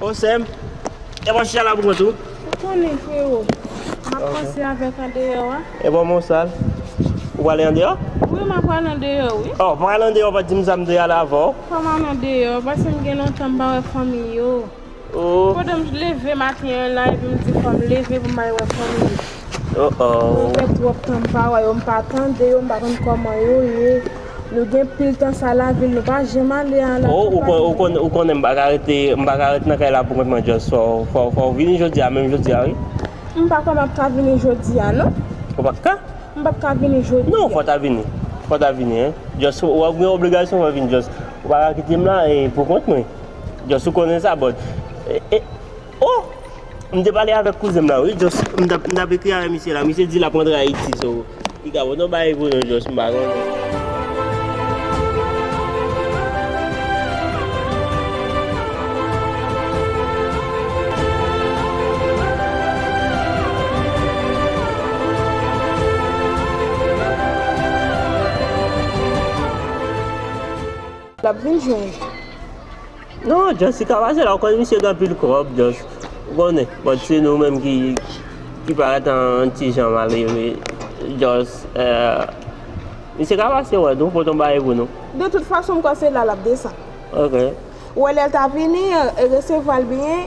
Oh sèm, e bon chicha la pou mwen tou. Ou konnen freo, map pase avek andeyo a. E bon mwen sal, ou pwale andeyo? Wi map pwale andeyo wi. Oh mwen al andeyo pa dim sa m te al avan w. Fom al andeyo, pase m gen lontan m pa we fanmi yo. Oh. Kote m leve maten an la epi m di fom leve pou m al we fanmi yo. Oh oh. Sa fe twop tan m pa we yo, m pa tande yo, m pa konn koman yo ye. Nou gen pil tan sa lavil nou pa janm ale an la Oh kanpay. ou konnen m pa ka rete m pa ka rete nan kay la pou kont mwen just fò fò vini jodia menm jodia wi. M pa kwè map ka vini jodia non. Ou pap ka? M pap ka vini jodia. Non fò ta vini fò ta vini hein just ou ap gen obligasyon fò vini just ou pa ka kite m la pou kont mwen just ou konnen sa but. Oh! M te pale avèk kouzen m la wi Jos, m tap ekri avèk misye la, misye di lap rantre Ayiti so li ka poto bay pou nou Jos m pa konnen. Lap vin jwenn. Non just li ka pase la ou konn misye gen anpil kob just ou konnen but se nou menm ki ki parèt an ti jan malere just eh misye ka pase wè nou pot on bagay pou nou. De tout fason m kwè se la lap desann. Ok. Ou wè lèl ta vini resevwal byen.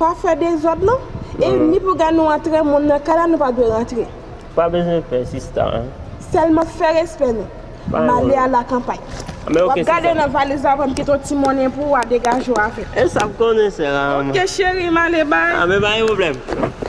Pa fè dezòd non. E ni pou gade nou antre moun nan kay la nou pa dwe rantre. Pa bezwen pè sista an. Sèlman fè respè nou. M ale a la kanpay. W ap gade nan valiz la pou m kite yon ti monnen pou ou a degaje w avè m. E sa m konnen sè a. Ok cheri m ale bay. Anben pa gen pwoblèm.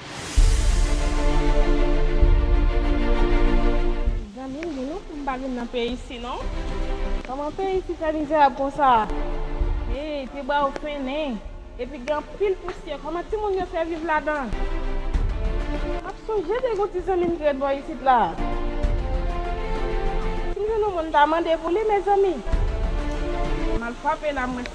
Zanmi m di nou pou m pa vin nan peyi si non. Koman peyi si fè mizerab konsa a. Hey te bwa yo fennen. Epi gen anpil pousyè koman ti moun yo fè viv ladan. Map sonje de gon ti zanmi m ki ret bò isit la. Sim jwenn yon moun m ta mande pou li mezanmi. Mal frape la mwen.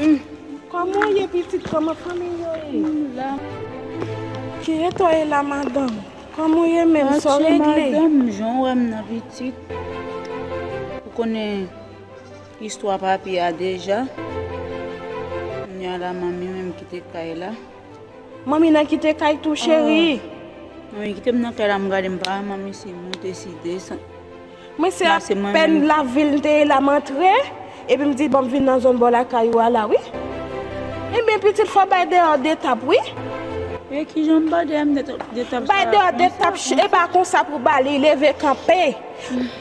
Uhmm koman w ye pitit koman fanmiy yo ye. Kiyè to ye la madanm koman w ye menm sa w regle. Atye madanm jan w wè m nan pitit ou konnen istwa papi a deja kounye a la manmi menm kite kay la. Manmi nan kite kay tou cheri. Manmi kite m nan kay la m gade m pa wè manmi se moun deside. Mwen se apèn lavil m te ye la m antre epi m di bon m vin nan zòn bò lakay ou a la wi. Ebyen pitit fò bay deyò 2 tap wi. E kijan m ba deyò 2 tap sa. Bay deyò 2 tap e pa konsa pou ba li leve kanpe.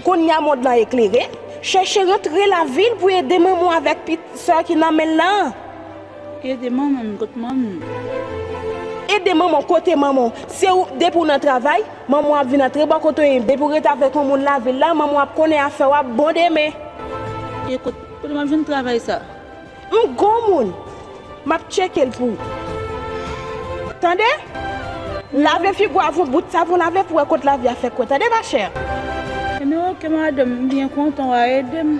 Kounya mond lan eklere, chèche rantre lavil pou ede manman w avèk pitit sè ki nan men l lan. Ede manman m kot manman m. Ede manman w kote manman w. Se ou, depi w nan travay, manman w ap vin antre bò kote w ye. Depi w ret avèk yon moun lavil la, manman w ap konnen afè w ap bon demen. E kot, kote m ap jwenn travay sa a? M gon moun! M ap tcheke l pou ou. Tande! Lave figu w avon bout savon lave pou wè kot lavi a fè kwe. Tande machè! Enben oke madanm, m byen kontan w a ede m.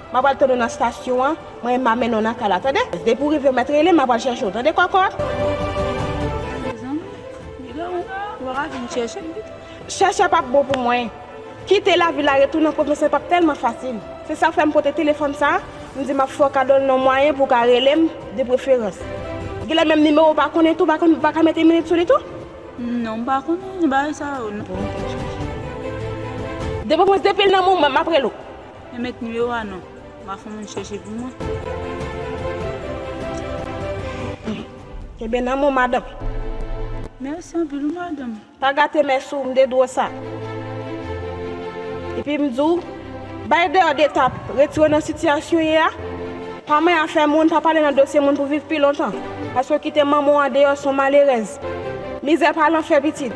Mwen pral tann ou nan stasyon an, mwen menm map mennen w nan kay la tande. Depi w rive mèt rele m map al chèche w tande kòkòt. Mezanmi Milo ou paka vin chèche m pito. Chèche pap bon pou mwen. Kite lavil la retounen an pwovensyal pap tèlman fasil. Se sak fè m pote telefòn sa a, m di map fè w kado l nan mwayen pou w ka rele m de preferans. Genlè menm nimewo w pa konnen tou, ou paka mete minit sou li tou? Non m pa konnen bagay sa yo non. Depi w pran depi l nan mwen map rele w. Mwen met numero a non. Map fon moun chèche pou mwen. Kenbe nan mwen madanm. Merci anpil wi madanm. Pa gate mès ou m de dro sa. Epi m diw bay deyò de tap retire nan sitiyasyon ye a. Pa manyen afè moun pa pale nan dosye moun pou viv pi lontan. Paske kite manman w andeyò son malerèz. Mizè pa lanfè pitit.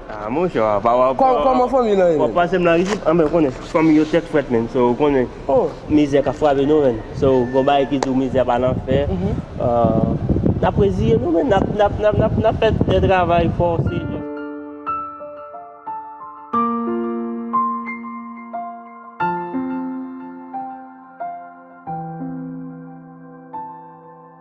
Ah mon cher apa wap Koman fanmi lan ye menm? Wap pasem la isit anben ou konnen fanmi yo tèt frèt menn so ou konnen mizè ka frape nou menn so gon bagay ki diw mizè pa nan fè Nap reziye nou menn nap fè de travay fòse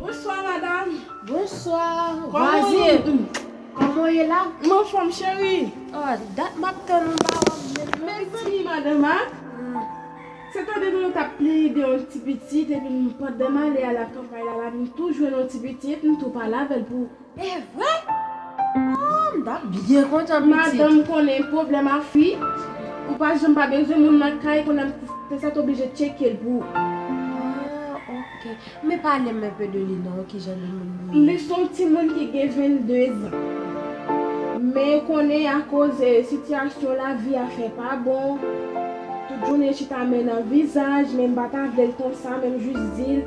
Bonswa madam. Bonswa vwazin. Koman w ye la? M anfòm cheri. Ah dat m ap tann ou m pa wè w menm non. Mezanmi madanm a, se tande nou yo t ap plede yon ti pitit epi pandan m ale a la kanpay la la m tou jwenn yon ti pitit m tou pale avè l pou Evre? Ooh m tap byen kontan pitit. Madanm konnen pwoblèm a fi, ou pa janm pa bezwen moun nan kay konnen te sa t oblije tcheke l pou ou. Ah ok, men pale m un peu de li non kijan de moun li ye? Li s on timoun ki gen 22 zan. Men konnen akoz sitiyasyon lavi a fè pa bon, tout jounen chita men nan vizaj, men m pa ta vle l konsa men m jis di l.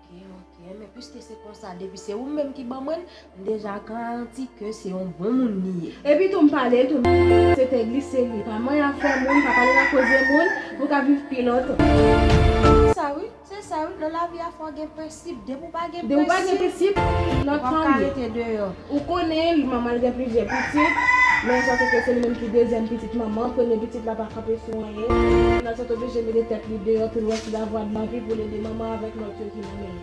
Ok ok men piske se konsa depi se ou menm ki ban mwen m deja garanti ke se yon bon moun li ye. Epi tou m pale tou m se te glise li pa manyen afè moun pa pale nan koze moun pou ka viv pi lontan. Se sa wi se sa wi nan lavi a fò gen prensip depi ou pa gen prensip wap ka rete deyò. Ou konnen, li manman l gen plizyè pitit, men sa se ke se li menm ki dezyèm pitit manman, premye pitit la pa kanpe sou anyen, Nathan t oblije mete tèt li deyò tou lwès lavwa de lavi pou l ede manman avèk lòt yo ki nan men l.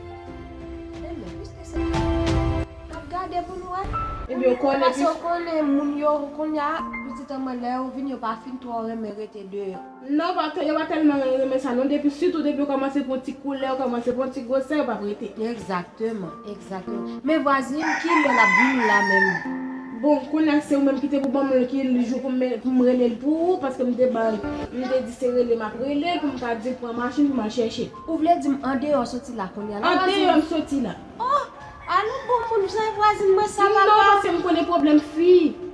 Ebyen, piske se li menm ki. N ap gade pou n wè. Ebyen, ou konnen piske. Pase ou konnen moun yo, kounya pitit an mwen lè yo vini yo pa fin twò renmen rete deyò. Non pa yo pa telman renmen sa non depi sitou depi yo komanse pran ti koulè yo komanse pran ti gwosè yo pap rete. Egzakteman egzakteman men vwazin kilè lap vin la menm. Bon konnya se ou menm kite pou banm l ki jou poum relel pou ou paske m te bay m te di se rele map relel poum ka diw pran machin pou mal chèche. Ou vle dim andeyò soti la kounya la vwazin. Andeyò m soti la. Oh alon bon moun bzwen vwazin mwen sa papa. Non paske m konnen pwoblèm fi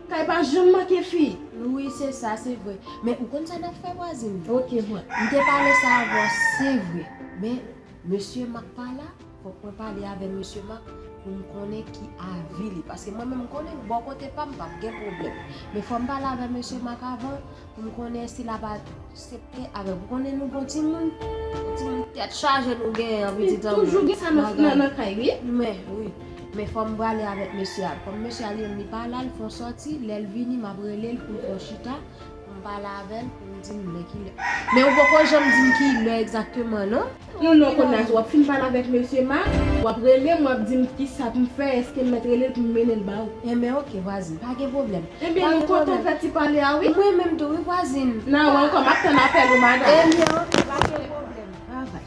kay pa janm manke fi. Wi se sa se vre men ou konn sa nap fè vwazin. Ok mwen. M te pale sa avè w se vre men mesye Mak pa la fòk mwen pale avè mesye Mak pou m konnen ki avi li paske mwen menm m konnen bò kote pa m pap gen pwoblèm men fò m pale avè mesye Mak avan Poun konnen si lap asepte avèm ou konnen nou bon timoun timoun tèt chaje nou gen an pitit an mwen li toujou gen sa nan kay wi mwen wi men fòm prale avèk mesye a kòm mesye a li menm li pa la li fon sòti lèl vini map relel poun fon chita poum pale avèl poum dim lè kilè men ou poko janm dim kilè egzakteman non. Ou non konnya wap fin pale avèk mesye Marc wap relem wap dim kisa poum fè eskem mèt relel poum menel ba ou. Enben ok vwazin pa gen pwoblèm. Enben nou kontan fè ti pale a wi. Mwen menm tou wi vwazin. Nan wè ankò map tann apèl ou madam. Enben ok pa gen pwoblèm bye bye.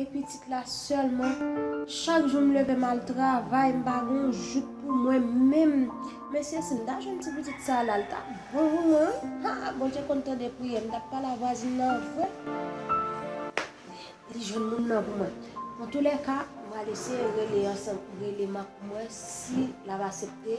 e pitit la sèlman chak jou m leve mal travay m pa gon jouk pou mwen menm mesye si m ta jwenn ti pitit sa la l tap bon pou mwen wi haa bondye konn tande priyè m tap pale a vwazin nan vre li jwenn moun nan pou mwen antoulèka m pral eseye rele an san rele m ap wè si lap asepte.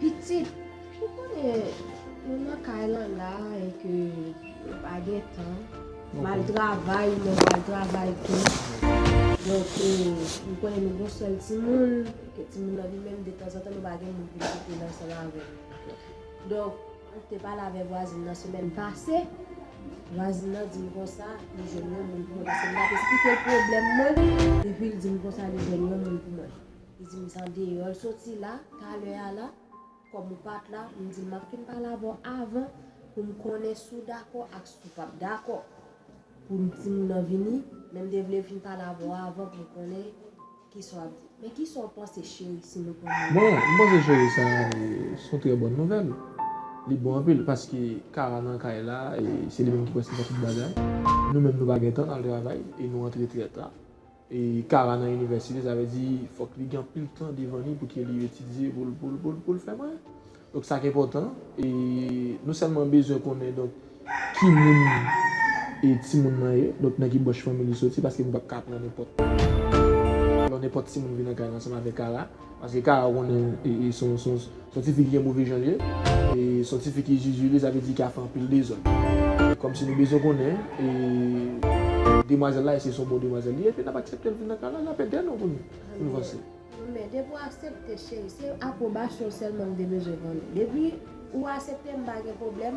Pitit, ou konnen nou nan kay lan la e ke nou pa gen tan. M al travay, ou menm w al travay tou. Donk, nou konnen nou gon sèl timoun, e ke timoun nan li menm detanzantan nou pa gen moun pou l kite l ansanm avè l. Donk, m te pale avè vwazin nan semèn pase, vwazin nan di m konsa li jwenn yon moun pou mwen paske m t ap esplike l pwoblèm mwen, epi l di m konsa li jwenn yon moun pou mwen. Li di m se andeyò l soti la, talè a la, kòm ou pa t la, m di l m ap fin pale avè w avan pou m konnen si w dakò ak si w p ap dakò pou m timoun nan vini, men m te vle fin pale avè w avan pou m konnen ki sa w ap di. Men ki sa w panse cheri si nou pran moun nan? Bon, m panse cheri sa s on trè bòn nouvèl. Li bon anpil paske Kara nan kay la e se li menm ki prèske fè tout bagay. Nou menm nou pa gen tan n al travay e nou antre trè ta. Kara nan inivèsite sa vle di fòk li gen anpil tan devan li pouki li etidye pou l pou l fè mwen donk sa k enpòtan e nou sèlman bezwen konnen donk ki moun e timoun nan ye donk nan ki branch fanmi li soti paske nou pap ka pran nenpòt lò nenpòt timoun vin nan kay la ansanm avèk Kara. Paske Kara ou konnen son tifi ki gen move jan li ye, e son tifi ki zuzu li sa vle di ki ap fè anpil dezòd. E kòmsi nou bezwen konnen e demwazèl la èske son bon demwazèl li ye epi n ap aksepte l vin nan kay la, n ap ede nou pou nou vanse. Men depi w aksepte cheri se apwobasyon w sèlman m te bezwen konnen. Depi ou aksepte m pa gen pwoblèm.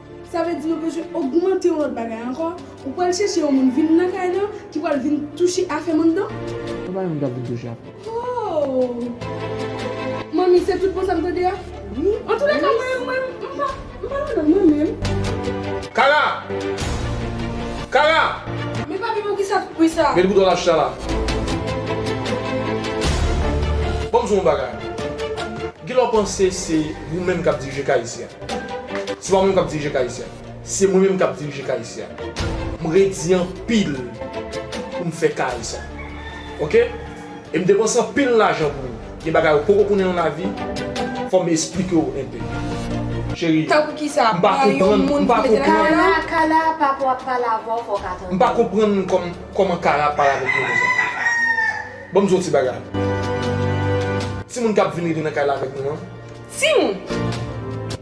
Sa vle di nou bezwen ogmante yon lòt bagay ankò, ou pral chèche yon moun vin nan kay lan ki pral vin touche afè moun nan? Ou pa menm ka vin touche afè. Hoo! Manmi se tout bon sa m tande a? Wi. An tou lèka mwen menm mwen m pa m pa ladan mwen menm. Kara! Kara! Men papi pou kisa tout bri sa? Met bouton lach la la. Banm di w yon bagay. Gilò panse se ou menm k ap dirije kay isi a. Se pa mwen menm kap dirije KIC a. Se mwen menm kap dirije KIC a. M redi anpil pou m fè kay sa. Ok. E m depanse anpil lajan pou li. Gen bagay ou poko konnen nan lavi, fò m esplike w enpe. Cheri, m pa konprann, m pa konprann. Kara, Kara, papa w ap pale avè w fò w ka tande l. M pa konprann kòman Kara ap pale avèk mwen konsa. Ban m di w yon ti bagay. Timoun kap vin rive nan kay la avèk nou an. Timoun!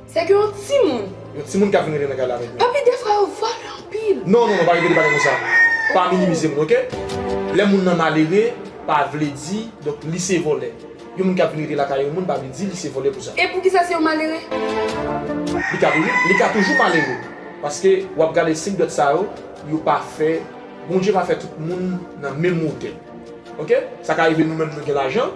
Se ke yon timoun! Yon timoun kap vin rete nan kay la avèk nou. Papi defra yo vòlè anpil. Non non non pa repete bagay konsa. Pa minimize moun ok. Lè moun nan malere pa vle di donk li se vòlè. Yon moun kap vin rete lakay yon moun pa vle di li se vòlè pou sa. E poukisa se yon malere? Li ka toujou li ka toujou malere. Paske wap gade 5 dwèt sa yo, yo pa fè Bondye pa fè tout moun nan menm wotè. Ok? Sa ka rive nou menm nou gen lajan.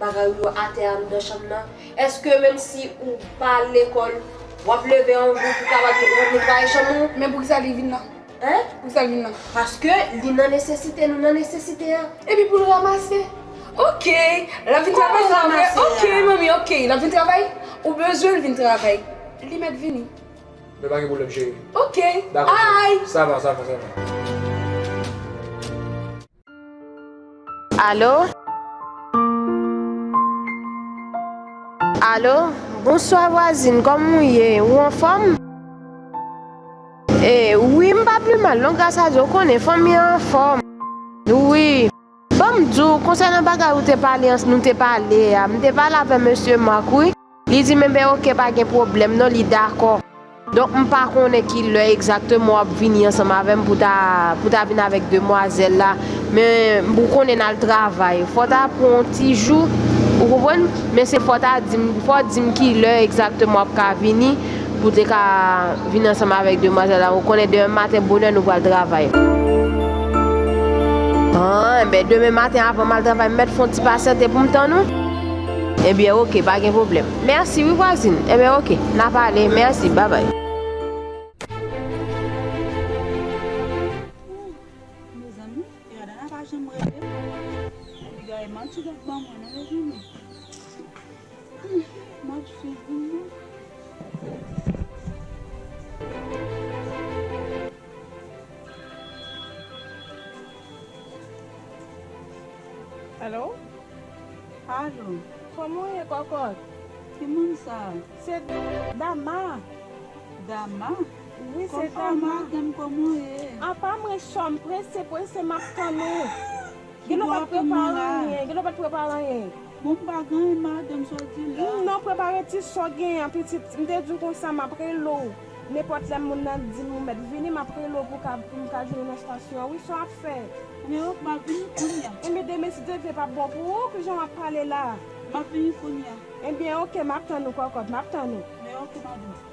Bagay ou yo atè anndan chanm nan, èske menm si ou pa al lekòl, w ap leve yon jou pou w kapab netwaye chanm ou? Men poukisa li vin nan? Hein? Poukisa l vin nan? Paske li nan nesesite, nou nan nesesite a. Epi pou l ramase? Ok! L ap vin travay pou l ramase a. Ok manmi, ok! L ap vin travay? Ou bezwen l vin travay? Li mèt vini. Men pa gen pwoblèm cheri. Ok! Dakò cheri. Ay! Sa va, sa va, sa va. Alo? Alo? Bonswa vwazin, kòman ou ye? Ou anfòm? E, wi, m pa pli mal non, gras a Dye, ou konnen, fanmi an anfòm. Wi. Ban m di w, konsènan bagay ou te pale, nou te pale a, m te pale avè mesye Marc wi. Li di men ben ok pa gen pwoblèm non li dakò. Donk m pa konnen ki lè egzakteman w ap vini ansanm avè m pou ta pou ta vin avèk demwazèl la men m ou konnen n al travay fò w ta pran yon ti jou ou konprann men se fò w ta di m fò w di m ki lè egzakteman w ap ka vini pou w te ka vin ansanm avèk demwazèl la ou konnen demen maten bonè nou pral travay. An enben demen maten avan m al travay m mèt fè yon ti pasyante pou m tann ou. Ebyen ok pa gen pwoblèm. Merci wi vwazin. Ebyen ok na pale merci bye bye. Alo! Kòman w ye kòkòt? Ki moun sa a? Se Dama! Dama? Wi, se Dama! Kòkòt, madanm, kòman w ye? Apa mwen chò, m prese prese m ap tann ou! Gen lè w pa t prepare anyen, gen lè w pa t prepare anyen. Bon, m pa gen anyen madanm, sa w di la? Non, prepare ti sa w genyen an pitit. M te di w konsa m ap rele w. Nenpòt lè moun nan dim ou mèt vini map rele w pou ka pou m ka jwenn ou nan stasyon an wi sa w ap fè? Men ok map vini kounya. Enben demen si Dye vle pap bon pou ou kijan wap pale la a? Map vini kounya. Enben ok map tann ou kòkòt map tann ou. Men ok map vini.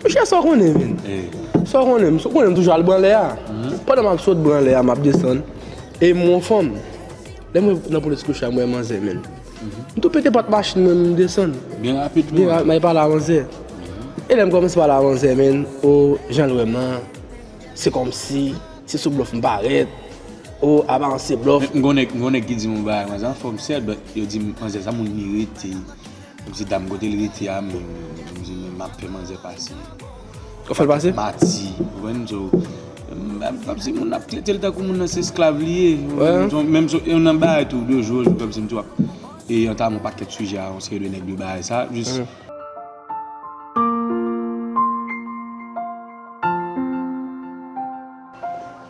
Monchè sa w konnen menm? Sa w konnen? Ou konnen m toujou al branlè a. Pandan m ap sot branlè a, m ap desann, e m wè yon fanm. Lè m rive nan Police Louchard, m wè manzè menm. M tou pete pòt machin mwen, m desann. Byen rapid menm? M al pale a manzè. E lè m kòmanse pale a manzè menm, o, jan l wè m lan, se kòmsi, se sou blòf m parèt. O, aparans se blòf. M gen yon nèg ki di m yon bagay, manzè anfòm sèt, but yo di m manzè sa moun li rete. Yon ti dam kote l rete a menm m di men map fè manzè pase Wap fèl pase? Mati ou konprann so Mwen pap di moun ap tretel tankou moun nan se esklav li ye Menm si yon nan bay tou de joj ou konprann sa E antanm yon pakèt sijè a yon seri de nèg de bay sa jis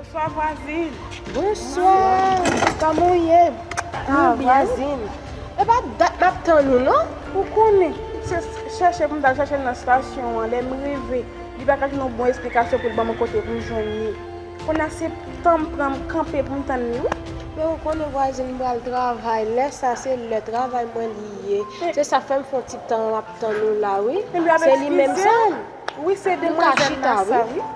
Bonswa vwazin. Bonswa. Kòman ou ye? Sa va vwazin? E pa dat m ap tann ou non. Ou konnen. Se chèche pou m t al chèche l nan stasyon an. Lè m rive, li pa ka jwenn yon bon esplikasyon pou l ban mwen kote pou m jwenn li. Kounye a se tan m pran m kanpe pou m tann li wi. Men ou konnen vwazin m pral travay. Lè sa se lè travay mwen li ye. Se sa k fè m fè yon ti tan m ap tann ou la wi. Se li menm sa? Wi se demwazèl la sa wi.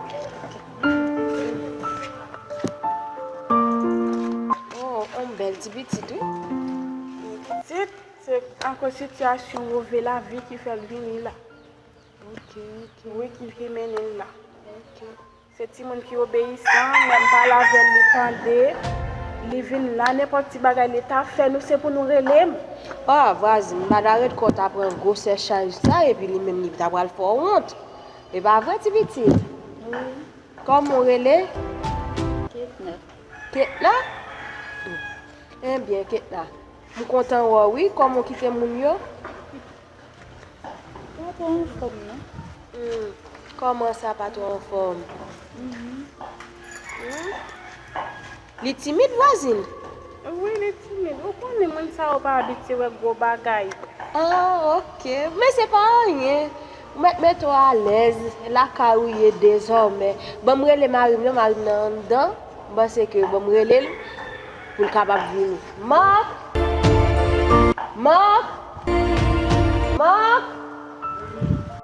Oh on bèl ti pitit wi. Li pitit se akoz sitiyasyon move lavi ki fè l vini la. Ok ok. Wi ki ki mennen l la. Ok. Se timoun ki obeyisan, lè m pale avè l li tande, li vin la nenpòt ti bagay li ta fè nou se pou nou rele m. Ah vwazin m pa ta ret kò w ta pran gwosè chaj sa epi li menm li ta pral fè w wont. E pa vre ti pitit? Wi. Kòman ou rele? Ketna. Ketna? Enbyen Ketna, m kontan wè w wi. Kòman ou kite moun yo? Pa twò anfòm non. Hum, kòman sa pa twò anfòm? Hum. Li timid vwazin? Wi li timid, ou konnen moun sa yo pa abitye wè gwo bagay. Oh ok, men se pa anyen, ou mèt mete w alèz, lakay ou ye dezòmè. Banm rele mari m non, mari m nan anndan, m panse ke banm rele l pou l kapab vini. Marc! Marc! Marc!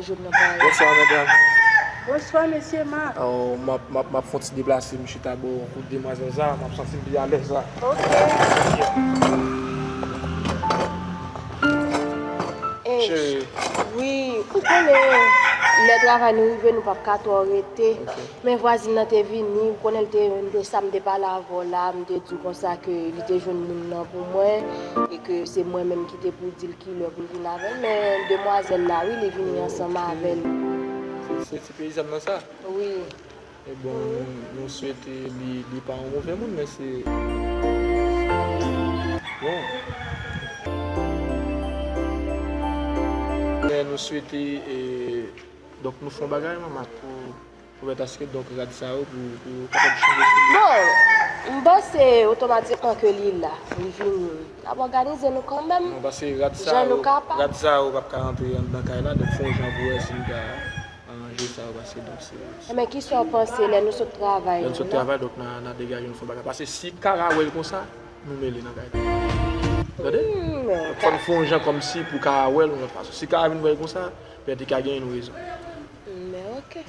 Bonswa medam. Bonswa mesye ma. M ap fon ti deplase m chita bò kote demwazèl sa, m ap santi m pi alèz la. Ok. Cheri. Wi, ou konnen lè travay nou rive nou pap ka twò rete. Men vwazin nan te vini, ou konnen l te yon de sa m te pale avè w la, m te di w konsa ke li te jwenn moun nan pou mwen e ke se mwen menm ki te pou di l ki lè pou l vin avè l. Men demwazèl la wi, li vini ansanm avè l. Ok, se ti peyizàn nan sa? Wi. E bon, nou swete li pa yon move moun men se bon. Men nou swete e. Donk nou fon bagay menm ak pou pou mèt aske donk rad sa yo pou pou yo kapab chanje sou li. Bon, m panse otomatikman ke li la, li vini. N ap òganize nou kanmèm Non pase rad sa jan nou yo kapab. rad sa yo pap ka antre anndan kay la donk fon jan pou wè si n ka aranje sa yo pase donk se se Enben kisa w panse lè nou sot travay Lè n nou sot la? travay donk na na degaje nou fon bagay pase si Kara wè l konsa nou mele nan kay la. Ou tande? Donk fò n fon jan kòmsi pou Kara wè l yon lòt fason. Si Kara vin wè l konsa Pèdi ka gen yn rezon. Men ok.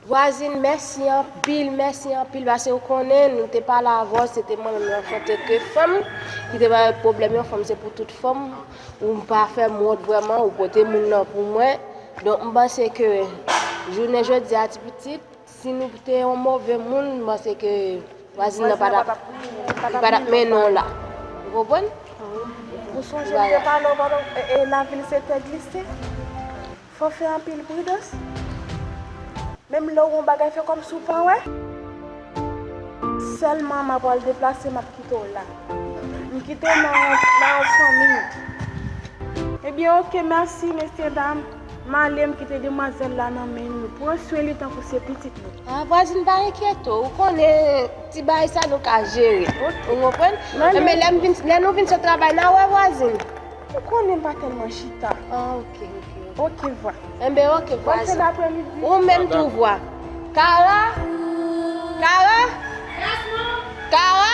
Vwazin mèsi anpil mèsi anpil pase ou konnen nou te pale avèw se te mwen menm an tante ke fanm ki te bay pwoblèm yon fanm se pou tout fanm ou pa fèm wont vrèman ou pote moun nan pou mwen donk m panse ke jounen jodia ti pitit Si nou te yon move moun m panse ke vwazin nan pa tap li pa tap mennen w la. Ou konprann? Ou sonje m te pale w pandan e lavil se tè glise. Fò fè anpil pridans. Menm lè w wè yon bagay fè kòmsi w pa wè. Sèlman m apral deplase m ap kite w la. M kite w nan yon fanmi. Ebyen ok mèsi mesye dam. M ale m kite demwazèl la nan men nou. Pran swen li tankou se pitit nou. A vwazin pa enkyete w. Ou konnen ti bagay sa nou ka jere. Ou konprann? Enben lè m vin, lè nou vin sot travay n a wè vwazin. Ou konnen m pa tèlman chita. A ok, ok. Ok vwa. Enben ok vwazin. Bòn fen dapremidi. Ou menm tou vwa. Kara! Kara! Yes mom! Kara!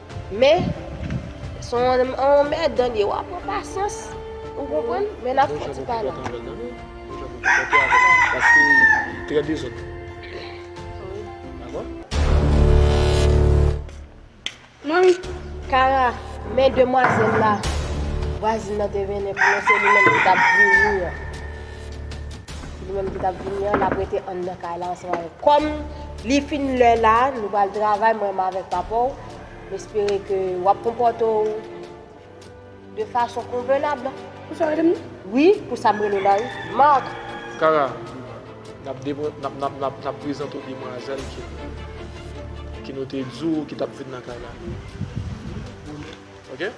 Men son anmèdan liye wap pran pasyans ou konprann men nap fè ti pale. Paske trè dezòd. Kara men demwazèl la vwazin nan te mennen pou mwen se li menm ki tap vini an. Se li menm ki tap vini an lap rete anndan kay la ansanm avèk. Kòm li fin lè la, nou pral travay mwen menm avèk papaw. M espere ke wap konpòte w de fason konvenab. Pou sa w rele m nan? Wi, pou sa m rele w la wi. Marc! Kara, nap prezante w demwazèl ke nou te di w ki tap vin nan kay la. Ok?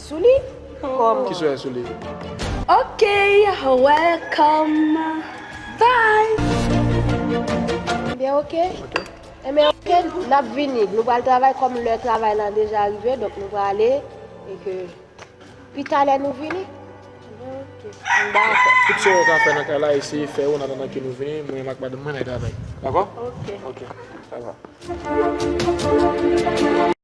Sou li? Koman? Ki swen sou li? Ok welcome bye. Ebyen ok. Ebyen ok nap vini nou pral travay kom lè travay lan deja rive donk nou prale e ke pi talè nou vini. Ok dakò. Tout sa ou ka fè nan kay la eseye fè yo an atandan ke nou vini mwen menm ak madanm mwen nap travay. Dakò? Ok. Ok. Dakò.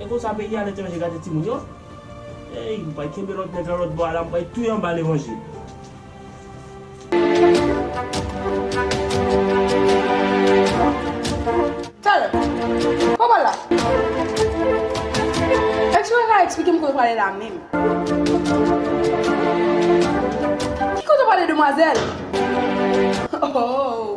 E konsa peyi a letranje gade timoun yo Eyy m pral kenbe lòt nèg lan lòt bò a la m pral touye anba levanjil. Tell em! Kòman la? Ex mwen ka eksplike m kote w prale la menm? Ki kote w prale demwazèl? Ohh!